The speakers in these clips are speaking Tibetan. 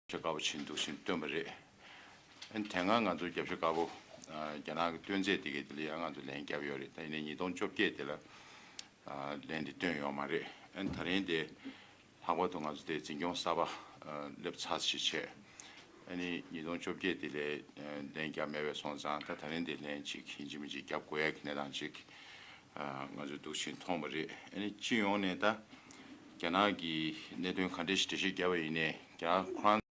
ཆ་དཀའ་པོ་བྱེད་འདུག་ཟེར་ནས་བཏོན་པ་རེད། དེ་སྔ་ང་ཚོར་རྒྱབ་ཆ་དཀའ་པོ་རྒྱ་ནག་གི་བཏོན་ཚད་དེ་གའི་དེ་ལ་ཡང་ང་ཚོ་ལན་བརྒྱབ་ཡོད་རེད་ད་ཡིན་ནས་ཉིས་སྟོང་བཅོ་བརྒྱད་དེ་ལ་ལན་དེ་བཏོན་ཡོད་མ་རེད། ད་རིང་དེ་ལྷག་པར་དུ་ང་ཚོ་དེ་འཛིན་སྐྱོང་གསར་པ་སླེབས་ཚར་ཞེས་བྱས། ནི་ཉིས་སྟོང་བཅོ་བརྒྱད་དེ་ལས་ལན་བརྒྱབ་མེད་པས་སོང་ཙང་ད་ད་རིང་དེ་ལན་གཅིག་གིས་འཇིགས་མི་འཇིགས་བརྒྱབ་དགོས་ཡག་གི་གནས་སྟངས་ཅིག་ང་ཚོས་སྡུག་ཅིང་མཐོང་བ་རེད་ཨ་ནི་སྤྱི་ཡོངས་ནས་ད་རྒྱ་ནག་གི་གནད་དོན་ག་འདྲའི་ཞིག་འགྲེལ་བཤད་རྒྱབ་པ་ཡིན་ནས་རྒྱ་ཁོ་རང་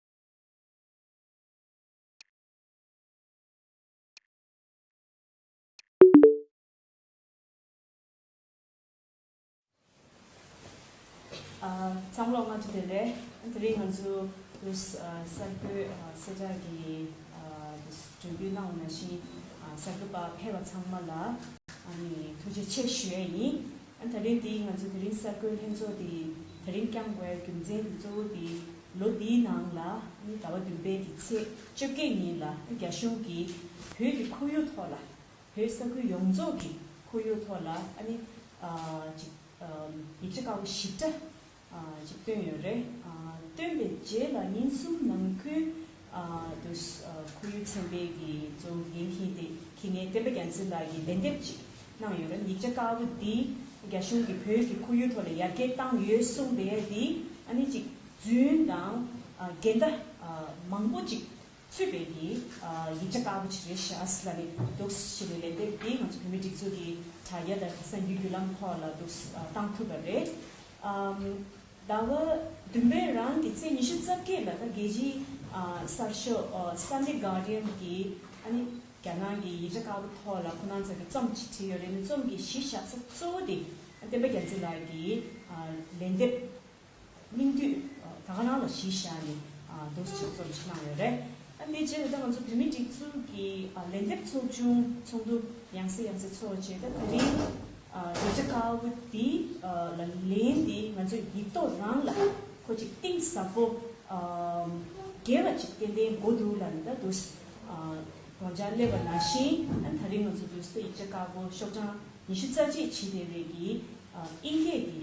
བསམ་བློ་སྔ་ཚོད་དེ་རེད། དེ་རིང་ང་ཚོས་གསར་འགོད་གསལ་བསྒྲགས་ཀྱི་གྲོས་འདུན་གནང་བ་ནང་བཞིན་གསར་འགོད་པ་ཕེབས་པ་ཚང་མ་ལ་ཐུགས་རྗེ་ཆེ་ཞུ་ཡས་ཡིན། ད་རེས་འདི་ང་ཚོས་དེ་རིང་གསར་འགོད་ལྷན་ཚོགས་འདི་ད་རིང་བསྐྱངས་བའི་རྒྱུ་མཚན་འདི་གཙོ་བོ་འདི་ལོ་འདིའི་ནང་ལ་ཟླ་བ་བདུན་པའི་འདི་ཚེས་བཅོ་བརྒྱད་ཉིན་ལ་རྒྱ་གཞུང་གིས་བོད་ཀྱི་ཁོར་ཡུག་ཐོག་ལ་བོད་ས་ཁུལ་ཡོངས་རྫོགས་ཀྱི་ཁོར་ཡུག་ཐོག་ལ་ཨ་ནི། ཅིག། ཡིག་ཆ་ཁག་པོ་ཞིབ་ཕྲ། ཅིག་བཏོན་ཡོད་རེད། བཏོན་པའི་རྗེས་ལ་ཉིན་གསུམ་ནང་ཁུལ། དུ། ཁོར་ཡུག་ཚན་པའི་གི་གཙོ་འགན་འཁྱིན་ཏེ་ཁྱི་ངན་བསྟན་པ་རྒྱ་མཚོས་ལགས་ཀྱིས་ལན་འདེབས་ཅིག་གནང་ཡོད་རེད་ཡིག་ཆ་དཀར་པོ་འདི། རྒྱ་གཞུང་གིས་བོད་ཀྱི་ཁོར་ཡུག་ཐོག་ལ་ཡར་རྒྱས་བཏང་ཡོད་གསུངས་པའི་འདི་ཨ་ནི་ཅིག། རྫུན་དང། འགལ་ཟླ། མང་པོ་ཅིག། ཚུད་པའི་དེ་ཡིག་ཆ་དཀར་པོ་ཆེ་རེ་ཤཱ་ཨཱས་ལ་ནི་འདུག་ཞེས་པའི་ལན་དེ་དེས་ང་ཚོ་བོད་མི་སྒྲིག་འཛུགས་ཀྱི་དྲ་རྒྱ་དང་གསར་འགྱུར་བརྒྱུད་ལམ་ཐོག་ལ་འདུག་བཏང་ཐུབ་པ་རེད། ཟླ་བ་བདུན་པའི་རང་གི་ཚེས་ཉི་ཤུ་རྩ་བརྒྱད་ལ་ད་རྒྱལ་སྤྱིའི་གསར་ཤོག Sunday Guardian གྱིས་ཨ་ནི་རྒྱ་ནག་གི་ཡིག་ཆ་དཀར་པོ་ཐོག་ལ་ཁོ་ནང་ཚང་གི་རྩོམ་ཞིག་བྲིས་ཡོད་རེད་ནས་རྩོམ་གྱི་གཞི་བཞག་ས་གཙོ་བོ་དེ་བསྟན་པ་རྒྱ་མཚོ་ལགས་ཀྱི་ལན་འདེབས་སྙིང་བསྡུས། ད་ག་རང་ལ་གཞི་བཞག་ནས་རྡོ་རྗེ་འཆང་རྩོམ་ཕྱི་ནང་ཡོད་རེད། དེའི་རྗེས་ལ་ད་ང་ཚོ་བོད་མིའི་སྒྲིག་འཛུགས་ཀྱི་ལས་འདེབས་ཚོགས་ཆུང་ཚོགས་འདུ་ཡང་སེ་ཡང་སེ་ཚོགས་རྗེས་ད་དེ་རིང་རྡོ་རྗེ་དཀར་བོ་འདི་ལ་ལན་འདི་ང་ཚོས་ཡིག་ཐོག་རང་ལ་ཁོ་ཅིག་གཏིང་ཟབ་པོ་རྒྱས་པ་ཅིག་ཏན་ཏན་འགོ་འདུག་ལ་ད་དུ་དགོངས་འཆར་སླེབས་པ་ན་བཞིན་ད་རིང་ང་ཚོ་དུས་ཚོད་ཡིག་ཆ་དཀར་པོ་ཤོག་གྲངས་ཉི་ཤུ་རྩ་གཅིག་ཕྱིན་བསྡད་རེས་ཀྱི་དབྱིན་སྐད་ཀྱི